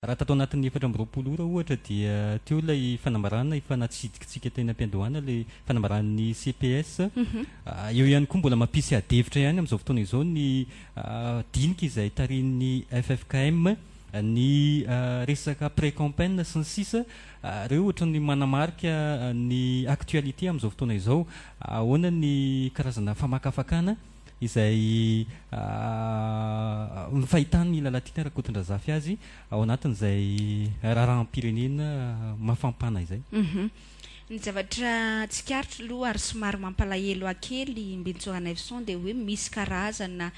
Raha tato anatin'ny efatra amby roapolo ora ohatra dia teo ilay fanambarana efa natsidikitsika teny am-piandohana ilay fanambaran'ny CPS. Eo ihany koa mbola mampisy adihevitra ihany amin'izao fotoana izao ny dinika izay tarihin'ny ffkm, ny resaka pré-campaign sy ny sisa. Ireo ohatran'ny manamarika ny actualité amin'izao fotoana izao. Ahoana ny karazana famakafakana? izay ny fahitan'ny Lalatiana Rakotondrazafy azy ao anatin'izay raharaham-pirenena mafampana izay. Ny zavatra tsikaritra aloha ary somary mampalahelo ahy kely Mbintsou Ranaivoson dia hoe misy karazana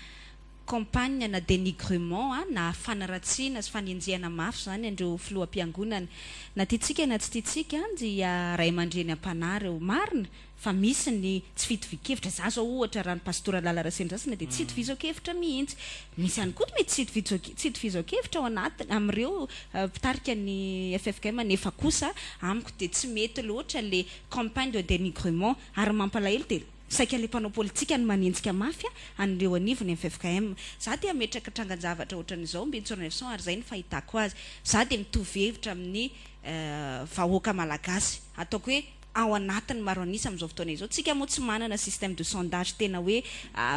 campagne na denigrement a, na fanaratsiana sy fanenjehana mafy izany an'ireo Filoham-piangonana. Na tiantsika na tsy tiantsika dia Ray aman-dreny am-panahy ireo. Marina? Fa misy ny tsy fitovian-kevitra. Za zao ohatra raha ny Pastora Lala Rasendrasina dia tsy itovizaon-kevitra mihintsy. Misy ihany koa mety tsy tsy itovizaon-kevitra ao anaty amin'ireo mpitarika ny ffkm nefa kosa amiko dia tsy mety loatra le campagne de denigrement ary mampalahelo dia saika le mpanao politika no manenjika mafy an'ireo anivon'ny ffkm. Za dia hametraka trangan-javatra ohatran'izao Mbin Tsornaivison ary zay ny fahitako azy. Za dia mitovy hevitra amin'ny vahoaka malagasy. Ataoko hoe. ao anatin'ny maro an'isa amin'izao fotoana izao. Tsika moa tsy manana système de sondage tena hoe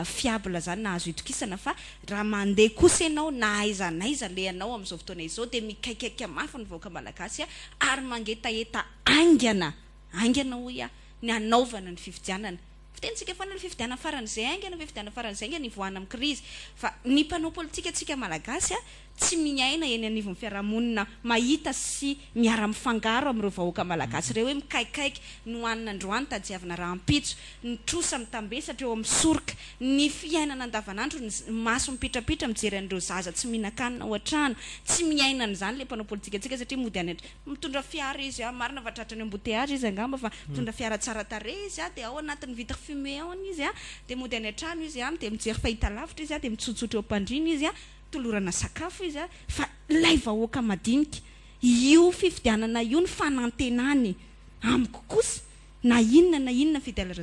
fiable zany na azo itokisana fa raha mandeha kosa ianao na aiza na aiza alehanao amin'izao fotoana izao dia mikaikaika mafy ny vahoaka malagasy ary mangetaheta aingana aingana hoy aho ny hanaovana ny fifidianana. Fitenintsika foana ny fifidianana faran'izay aingana fifidianana faran'izay aingana hivoahana amin'ny krizy fa ny mpanao politika tsika malagasy tsy miaina eny anivon'ny fiarahamonina mahita sy miara-mifangaro amin'ireo vahoaka malagasy ireo hoe mikaikaika, nohanina androany, tadiavina rahampitso, ny trosa mitambesatra eo amin'ny soroka, ny fiainana andavanandro, ny maso mipitrapitra mijery an'ireo zaza tsy mihinan-kanina ao an-trano. Tsy miaina an'izany ilay mpanao politikantsika satria mody any an-. Mitondra fiara izy an, marina fa tratran'ny embouteillages izy angamba fa mitondra fiara tsara tarehy izy an, dia ao anatin'ny vitre fumée ao ny izy an, dia mody any an-trano izy an, dia mijery fahitalavitra izy an, dia mitsotsotra eo am-pandriana izy an, tolorana sakafo izy fa ilay vahoaka madinika, io fifidianana io ny fanantenany amiko kosa na inona na inona fidelr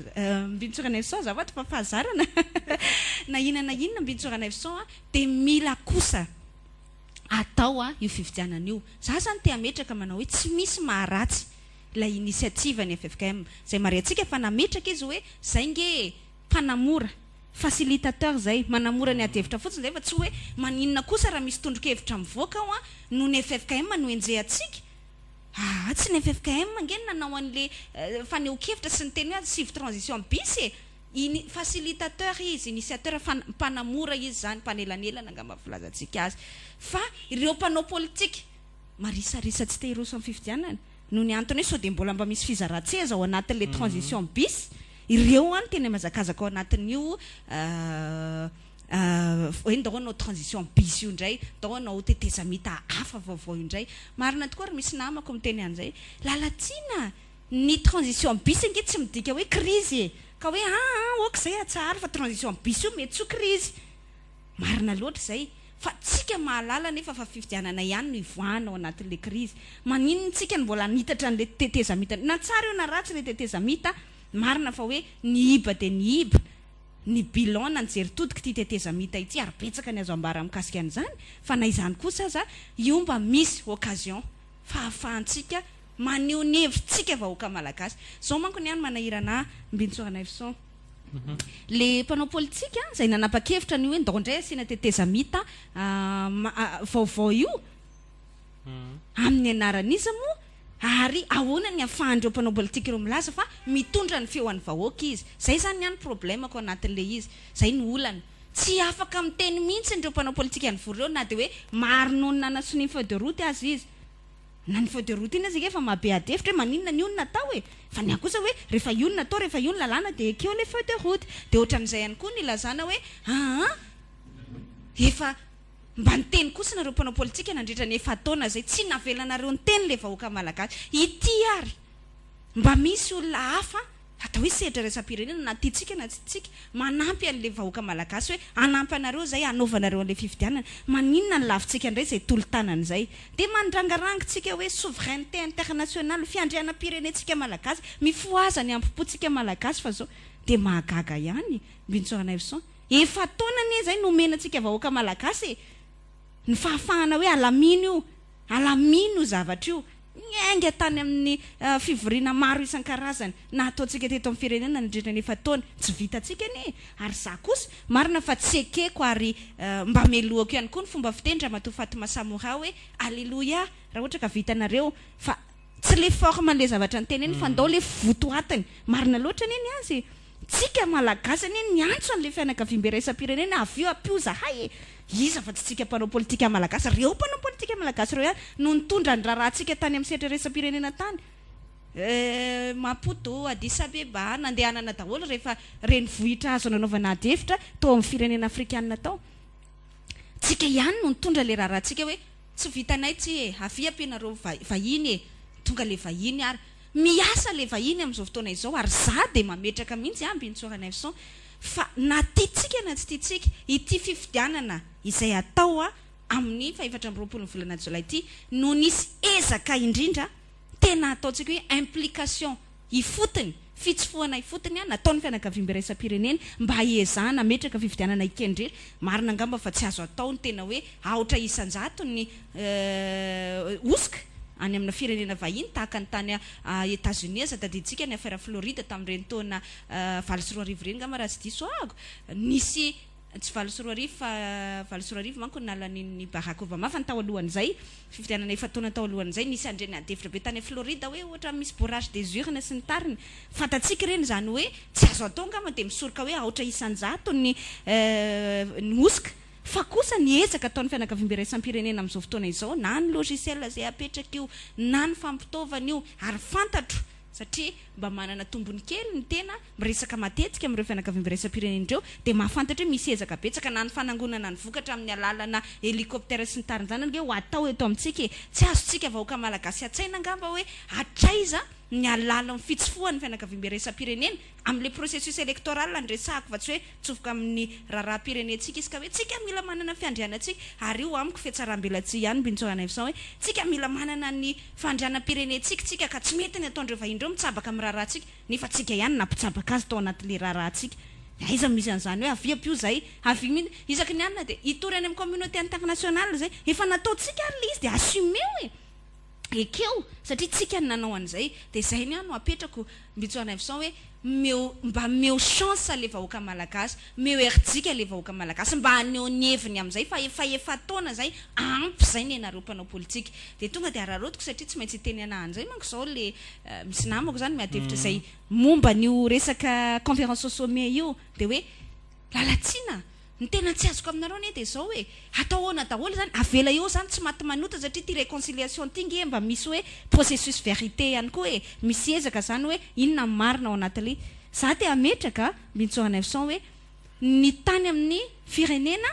Bintou Ranaivoson za vady fa fahazarana na inona na inona Bintou Ranaivoson dia mila kosa atao io fifidianana io, za zany te hametraka manao hoe tsy misy maharatsy ilay initiative ny ffkm, izay marihantsika fa nametraka izy hoe zay nge e! mpanamora, facilitateur zay, manamora ny adihevitra fotsiny zay fa tsy hoe maninona kosa raha misy tondrokevitra mivoaka ao an, noho ny ffkm no enjehantsika? aa tsy ny ffkm ange no nanao anle fanehonkevitra sy niteny hoe asivo transition bis e! ini, facilitateur izy, initiateur, fan, mpanamora izy zany, mpanelanelana angamba ny filazantsika azy, fa ireo mpanao politika marisarisa tsy te hiroso amin'ny fifidianana, Noho ny antony hoe sao dia mbola mba misy fizaran-tseza ao anatin'ilay transition bis, ireo ho'a no tena mihazakazaka ao anatin'io hoe ndao hanao transition bis io indray, ndao hanao tetezamita hafa vaovao io indray. Marina tokoa ry misy namako miteny an'izay. Lalatsina! Ny transition bis ange tsy midika hoe krizy e! Ka hoe aa ok izay atsaharo fa transition bis io mety tsy ho krizy. Marina loatra izay fa tsika mahalala anefa fa fifidianana ihany no ivoahana ao anatin'ilay krizy. Maninona tsika no mbola hanitatra an'ilay tetezamita? Na tsara io na ratsy ilay tetezamita, marina fa hoe nihiba dia nihiba ny bilan na ny jeritodik'ity tetezamita ity ary betsaka ny azo ambara mikasika an'izany fa na izany kosa aza io mba misy occasion fahafahantsika maneho ny hevitsika vahoaka malagasy. Izao manko ny ahy no manahirana ahy Mbintsoa Ranaivoson. Ilay mpanao politika izay nanapa-kevitra an'io hoe ndao indray asiana tetezamita vaovao io, amin'ny anaran'iza moa? Ary ahoana ny ahafahan'ireo mpanao politika ireo milaza fa mitondra ny feo an'ny vahoaka izy? Izay izany ny ahy ny problemako anatin'ilay izy. Izay no olana. Tsy afaka miteny mihitsy ireo mpanao politika nivory ireo na dia hoe maro noho ny nanasonia ny feuille de route aza izy. Na ny feu de route iny aza anie efa mahabe adihevitra hoe maninona ny olona atao e! Fa ny ahy kosa hoe rehefa io no natao, rehefa io ny lalàna dia ekeo ilay feu de route. Dia ohatran'izay ihany koa ny ilazana hoe aa efa mba niteny kosa nareo mpanao politika nandritra ny efa-taona izay tsy navelanareo niteny ilay vahoaka malagasy. Ity ary mba misy olona hafa Atao hoe sehatra iraisam-pirenena na tiantsika na tsy tiantsika, manampy an'ilay vahoaka malagasy hoe hanampy anareo izay, hanaova anareo an'ilay fifidianana. Maninona no lavintsika indray izay tolo-tanana izay? Dia mandrangarangintsika hoe souveraineté internationale, fiandrianam-pirenentsika malagasy, mifohaza ny hambom-pontsika malagasy fa izao dia mahagaga ihany. Bintsôrana Evson, efa-taona anie izay no omena antsika vahoaka malagasy e! ny fahafahana hoe alamino io, alamino io zavatra io. Niainga tany amin'ny fivoriana maro isan-karazany nataontsika teto amin'ny firenena nandritra ny efa-taona. Tsy vitantsika anie e! Ary izaho kosa, marina fa tsy ekeko ary mba melohako ihany koa ny fomba fitenin-dRamatoa Fatma Samora hoe Aleloia raha ohatra ka vitanareo fa tsy ilay forme ilay zavatra noteneniny fa ndao ilay votoatiny. Marina loatra anie ny azy e! Tsika malagasy anie niantso anle fianakaviambe iraisam-pirenena avy eo ampio zahay e! Iza fa tsy tsika mpanao politika malagasy, reo mpanao politika malagasy reo ihany no nitondra ny raharaha tsika tany amin'ny sehatra iraisam-pirenena tany eh, Maputo, Addis Abeba, nandehanana daholo rehefa renivohitra azo nanaovana ady hevitra tao amin'ny firenena afrikanina tao, tsika ihany no nitondra le raharaha tsika hoe tsy vitanay tsy e, avia ampianareo vahiny e, tonga le vahiny ary. Miasa le vahiny amin'izao fotoana izao ary za dia mametraka mihitsy an Bintsora Neuvson fa na tiantsika na tsy tiantsika ity fifidianana izay hatao amin'ny fahefatra amby roapolon'ny volana jolay ity no nisy ezaka indrindra tena ataontsika hoe implication ifotony, fitsofohana ifotony nataon'ny fianakaviambe iraisam-pirenena mba hiezahana hametraka fifidianana ikendry marina angamba fa tsy azo atao ny tena hoe aotra isan-jatony hosoka any amina firenena vahiny tahaka ny tany Etazonia aza. Tadidintsika ny afera Florida tamin'ireny taona valo sy roa arivo ireny ngamba raha tsy diso ahako. Nisy, tsy valo sy roa arivo fa valo sy roa arivo manko no nalanian'i Barack Obama fa ny tao alohan'izay, fifidianana efa-taona tao alohan'izay, nisy andriana adihevitra be tany Florida hoe ohatran'ny misy bourrage des urnes sy ny tariny. Fantatsika ireny izany hoe tsy azo atao ngamba dia misoroka hoe aotra isan-jato ny hosoka. Fa kosa ny ezaka ataon'ny fianakaviambe iraisam-pirenena amin'izao fotoana izao, na ny logiciel izay apetraka io, na ny fampitaovana io, ary fantatro satria mba manana tombony kely ny tena miresaka matetika amin'ireo fianakaviambe iraisam-pirenena ireo, dia mahafantatra hoe misy ezaka betsaka na ny fanangonana ny vokatra amin'ny alalana helicoptère sy ny tariny izany ange ho atao eto amintsika e! Tsy azontsika vahoaka malagasy an-tsaina angamba hoe hatraiza ny alalan'ny fitsofohan'ny fianakaviambe iraisam-pirenena Amin'ilay processus electoral no resahako fa tsy hoe mitsofoka amin'ny raharaham-pirenentsika izy ka hoe tsika mila manana ny fiandrianantsika ary io amiko fihatsarambelatsihy ihany Bincho Hanivison hoe tsika mila manana ny fandrianam-pirenentsika tsika ka tsy mety ny ataon'ireo vahiny ireo mitsabaka amin'ny raharahantsika nefa tsika ihany nampitsabaka azy tao anatin'ilay raharahantsika dia aiza no misy an'izany hoe avia ampio izay avia mino isaky ny alina dia hitory any amin'ny communauté internationale izay efa nataontsika ary ilay izy dia assumeo e! ekeo satria tsika no nanao an'izay dia zay ny ahy no apetrako Mbitsoa Rainfison hoe meo mba meo chance le vahoaka malagasy meo herijika le vahoaka malagasy mba haneho ny heviny amin'izay fa efa efa-taona zay ampy zay ny anareo mpanao politika dia tonga dia araraotiko satria tsy maintsy itenenana an'izay manko zao le misy namako zany miady hevitra izay momba an'io resaka conference au sommet io dia hoe lalatsina Ny tena tsy azoko aminareo anie dia izao e, atao ahoana daholo izany, avela eo izany tsy maty manota satria ity réconciliation ity nge mba misy hoe processus vérité ihany koa e, misy ezaka izany hoe inona ny marina ao anatin'ilay, za te hametraka Bintsoaneuvson hoe ny tany amin'ny firenena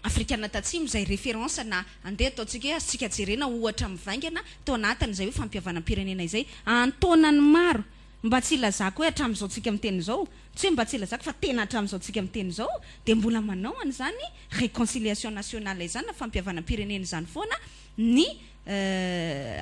afrikana tatsimo izay référence na andeha ataontsika hoe azontsika jerena ohatra mivaingana tao anatin'izay hoe fampihavanam-pirenena izay antaonany maro Mba tsy hilazako hoe hatramin'izao tsika miteny izao, tsy hoe mba tsy hilazako fa tena hatramin'izao tsika miteny izao dia mbola manao an'izany réconciliation nationale izany na fampihavanam-pirenena izany foana ny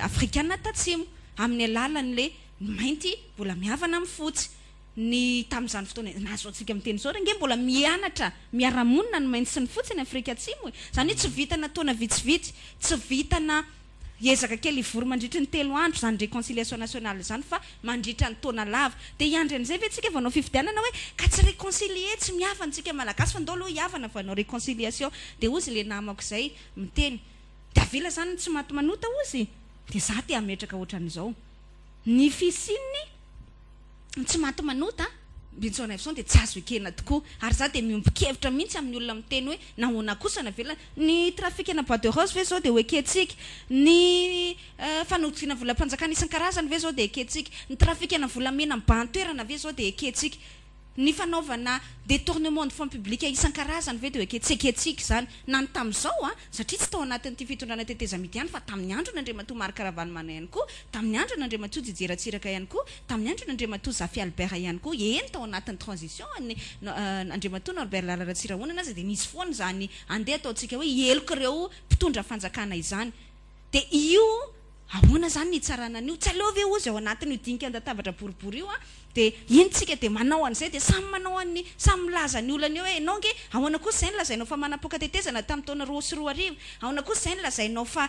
afrikana tatsimo amin'ny alalan'ilay ny mainty mbola mihavana amin'ny fotsy, ny tamin'izany fotoana na izao tsika miteny izao ary ange mbola mianatra miara-monina ny mainty sy ny fotsy any afrika atsimo e! Izany hoe tsy vitana taona vitsivitsy, tsy vitana Hiezaka kely hivory mandritry ny telo andro izany reconciliation nationale izany fa mandritra ny taona lava dia hiandry an'izay ve tsika vao hanao fifidianana hoe ka tsy reconcilier tsy mihavana tsika malagasy fa ndao aloha hihavana vao hanao reconciliation dia ozy le namako izay miteny dia avela izany ny tsy maty manota ozy dia za te hametraka otran'izao ny fisian'ny Ny tsy maty manota, Benson Iveson, dia tsy azo ekena tokoa. Ary izaho dia miombon-kevitra mihitsy amin'ny olona miteny hoe nahoana kosa no avelana. Ny trafikana bois de rose ve izao dia ho ekentsika? Ny fanodidiana volam-panjakana isan-karazany ve izao dia ekentsika? Ny trafikana volamena mibahan-toerana ve izao dia ekentsika? Ny fanaovana detournement de fonds publics isan-karazany ve dia ho ekentsika? Tsy ekentsika izany na ny tamin'izao. satria tsy tao anatin'ity fitondrana tetezamita ihany fa tamin'ny andron' Andriamatoa Marc Ravalomanana ihany koa, tamin'ny andron' Andriamatoa Didier Ratsiraka ihany koa, tamin'ny andron' Andriamatoa Zafy Albert ihany koa, eny tao anatin'ny transition an'ny Andriamatoa Norbert Lala Ratsirahonana aza dia nisy foana izany andeha ataontsika hoe heloka ireo mpitondra fanjakana izany dia io Ahoana izany ny hitsarana an'io? Tsy aleo ve ozy ao anatin'io dikan-databatra boribory io dia iny tsika dia manao an'izay dia samy manao an'ny samy milaza ny olany eo hoe ianao ange ahoana kosa izay ny lazainao fa manapoaka tetezana tamin'ny taona roa sy roa arivo? Ahoana kosa izay ny lazainao fa